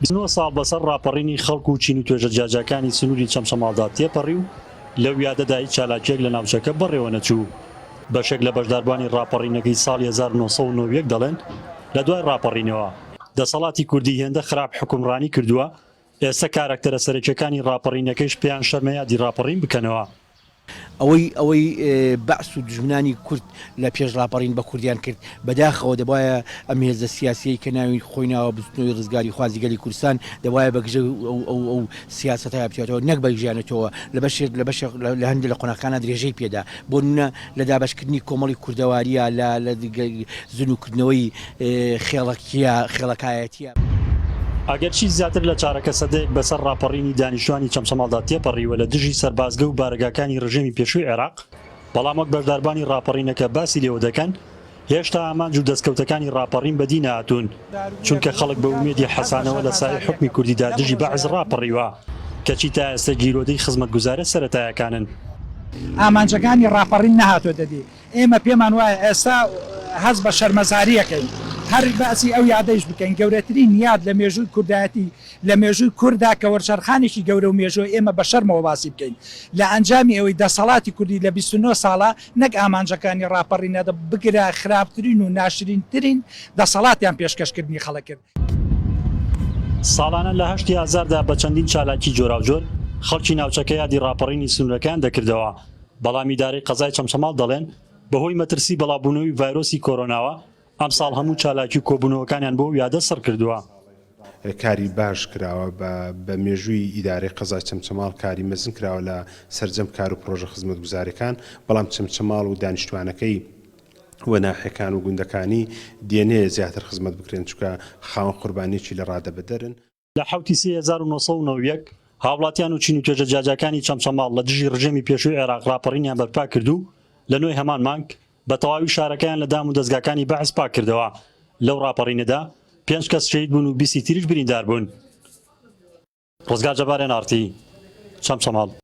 بیست و نۆ ساڵ بەسەر ڕاپەڕینی خەڵک و چین و توێژە جیاجیاکانی سنووری چەمچەماڵدا تێپەڕی و لەو یادەدا هیچ چالاکییەک لە ناوچەکە بەڕێوە نەچوو. بەشێک لە بەشداربووانی ڕاپەڕینەکەی ساڵی هەزار و نۆ سەد و نۆ و یەک دەڵێن، لە دوای ڕاپەڕینەوە، دەسەڵاتی کوردی هێندە خراپ حوکمڕانی کردووە، ئێستە کاراکتەرە سەرەکیەکانی ڕاپەڕینەکەیش پێیان شەرمە یادی ڕاپەڕین بکەنەوە. ئەوەی ئەوەی بەعس و دوژمنانی کورد لە پێش ڕاپەڕین بە کوردیان کرد بەداخەوە دەبوایە ئەم هێزە سیاسیەی کە ناوی خۆی ناوە بزوتنەوەی ڕزگاری خوازی گەلی کوردستان دەبوایە بە گژە ئەو ئەو ئەو سیاسەتە بچێتەوە نەک بە گژیانەتەوە لە بەشێک لە بەشێک لە هەندێ لە قۆناخەکانا درێژەی پێدا بۆنمونە لە دابەشکردنی کۆمەڵی کوردەوارییە، لە زنوکردنەوەی خێڵەکییە، خێڵەکایەتییە. ئەگەرچی زیاتر لە چارەکە سەدەیەک بەسەر ڕاپەڕینی دانیشتوانی چەمچەماڵدا تێپەڕیوە لە دژی سەربازگە و بارەگاکانی ڕژێمی پێشووی عێراق، بەڵام وەک بەشداربانی ڕاپەڕینەکە باسی لێوە دەکەن، هێشتا ئامانج و دەستکەوتەکانی ڕاپەڕین بەدی نەهاتوون، چونکە خەڵک بە ئومێدی حەسانەوە لە سایەی حوکمی کوردیدا دژی بەعس ڕاپەڕیوە، کەچی تا ئێستە گیرۆدەی خزمەتگوزارە سەرەتایەکانن. ئامانجەکانی ڕاپەڕین نەهاتۆتە دی. ئێمە پێمان وایە ئێستا هەست بە شەرمەزاری ئەکەین هەر باسی ئەو یادەیش بکەین، گەورەترین یاد لە مێژووی کوردایەتی، لە مێژووی کورددا کە وەرچەرخانێکی گەورە و مێژووە ئێمە بە شەرمەوە باسی بکەین لە ئەنجامی ئەوەی دەسەڵاتی کوردی لە بیست و نۆ ساڵە نەک ئامانجەکانی ڕاپەڕینە بگرە خراپترین و ناشرینترین دەسەڵاتیان پێشکەشکردنی خەڵک کرد. ساڵانە لە هەشتی ئازاردا بە چەندین چالاکی جۆراوجۆر خەڵکی ناوچەکە یادی ڕاپەڕینی سنوورەکەیان دەکردەوە، بەڵام ئیدارەی قەزای چەمچەماڵ دەڵێن، بەهۆی مەترسی بەڵاوبوونەوەی ڤایرۆسی کۆرۆناوە، ئەمساڵ هەموو چالاکی و کۆبوونەوەکانیان بۆ ئەو یادە سڕ کردووە. کاری باش کراوە بە مێژووی ئیدارەی قەزای چەمچەماڵ کاری مەزن کراوە لە سەرجەم کار و پڕۆژە خزمەتگوزارەکان بەڵام چەمچەماڵ و دانیشتوانەکەی و ناحیەکان و گوندەکانی دێنێ زیاتر خزمەت بکرێن چونکە خاوەن قوربانیەکی لە ڕادەبەدەرن. لە حەوت ی سێ هەزار و نۆ سەد و نەوەد و یەک هاوڵاتیان و چین و توێژە جیاجیاکانی چەمچەماڵ لە دژی ڕژێمی پێشووی عێراق ڕاپەڕینیان بەرپا کرد و لە نۆی هەمان مانگ بە تەواوی شارەکەیان لە دام و دەزگاکانی بەعس پاک کردەوە. لەو ڕاپەڕینەدا پێنج کەس شەهید بوون و بیستی تریش بریندار بوون. ڕزگار جەبارێن ئارتی چەمچەماڵ.